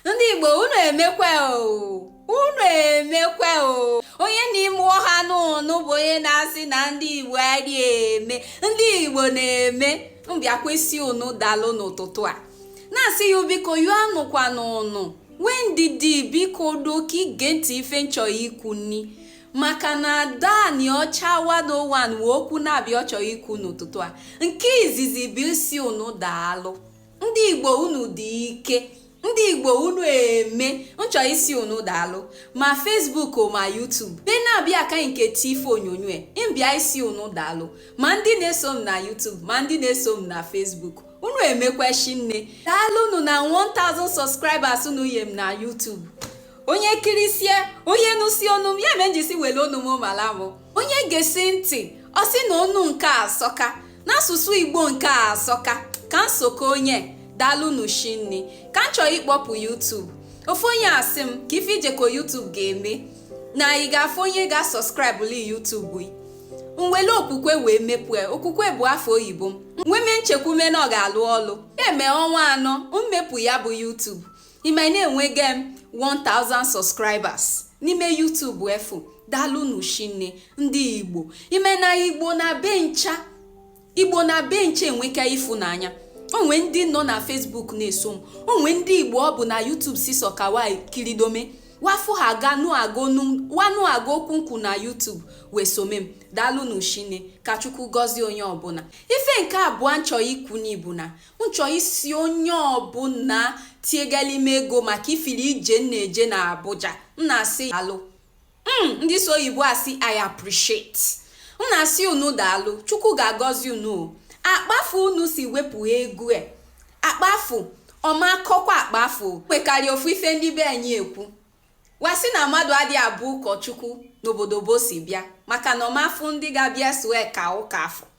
ndị igbo unu emekwe o unu emekwe o onye n'ime ọha n'unu bụ onye na-asị na ndị igbo adị eme ndị igbo na-eme m bịakwa ịsị unu daalụ n'ụtụtụ a na-asị ya biko yụọ anụkwa n'unu nwee ndidi biko do ka i gee ntị ife m chọ ikwu nni maka na ada anịọcha one n'ụwa nwee okwu na-abịa ọ chọrọ ikwu n'ụtụtụ a nke izizi bụ ịsị unu daalụ ndị igbo unu dị ike ndị igbo unu eme m chọ ịsị unu daalụ ma Facebook ma YouTube be na-abịa aka nke ti ife onyonyo m bịa ịsị unu daalụ ma ndị na-eso m na YouTube ma ndị na-eso m na Facebook unu emekwe shinne daalụ unu na 1000 subscribers unu nye m na YouTube onye kirisie onye nụsi onu m ya me m ji sị wele onu m mala m onye gesi ntị ọ sị na onu nke a asọka n'asụsụ igbo nke a asọka ka m soka onye daalụnụ shinne ka m chọrọ ịkpọpụ YouTube ofu onye asị m ka ife i jeko YouTube ga-eme na ị ga-afụ onye ga-subscribe li YouTube gị m wele okwukwe wee mepue okwukwe bụ afọ oyibo m nweme nchekwume na ọ ga-alụ ọlụ eme ọnwa anọ m mepu ya bụ YouTube ime na enwege m 1000 subscribers n'ime YouTube efu daalụnụ shinne ndị igbo ime na igbo n'ebe ncha enweka ịfụnanya o nwe ndị nọ na Facebook na-eso m o nwe ndị igbo ọ bụ na YouTube si sọ ka wa kiridome wa fụ ha wa nụ agụ okwu m kwu na YouTube wee some m daalụnụ shinne ka chukwu gọzie onye ọbụna ife nke abụọ m chọ ikwu ni bụ na m chọ ịsị onye ọbụna tiegeli m ego maka ifili ije m na-eje na Abuja m na-asị daalụ ndị sụ oyibo asị I appreciate m na-asị unu daalụ Chukwu ga-agọzi unu akpa afụ unu si wepụ ego e akpa afụ ọ ma akọkwa akpa afụ nwekarị ofu ife ndị be anyị ekwu wa sị na mmadụ adị abụ ụkọchukwu n'obodo be o si bịa maka na ọ ma afụ ndị ga-abịa soe ka ụka afọ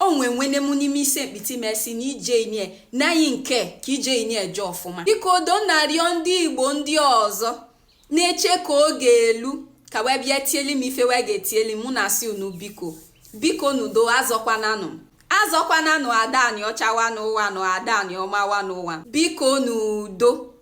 o nwe nwenne m n'ime ise mkpiti m sị na ije inie na anyị nke ka ije inie je ọfụma biko do na-arịọ ndị igbo ndị ọzọ na-eche ka oge elu ka wee bịa tieli m ife wa ga-etieli m m na-asị unu biko bikonụ do azọkwananụ m azọkwananụ ada anịọcha one n'ụwa nụ ada anịọma one n'ụwa bikonụ do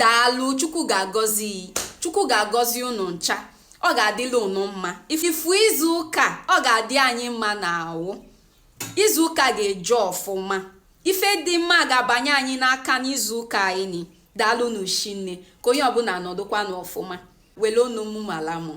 daalụ chukwu ga-agọzi chukwu ga-agọzi unu ncha ọ ga-adịlụ unu mma ị fụ izu ụka ọ ga-adị anyị mma n'awụ izu ụka ga-eje ọfụma ife dị mma ga-abanye anyị n'aka n'izu ụka anyị daalụnụ shinne ka onye ọbụna nọdụkwanụ ọfụma wele onu m mala m o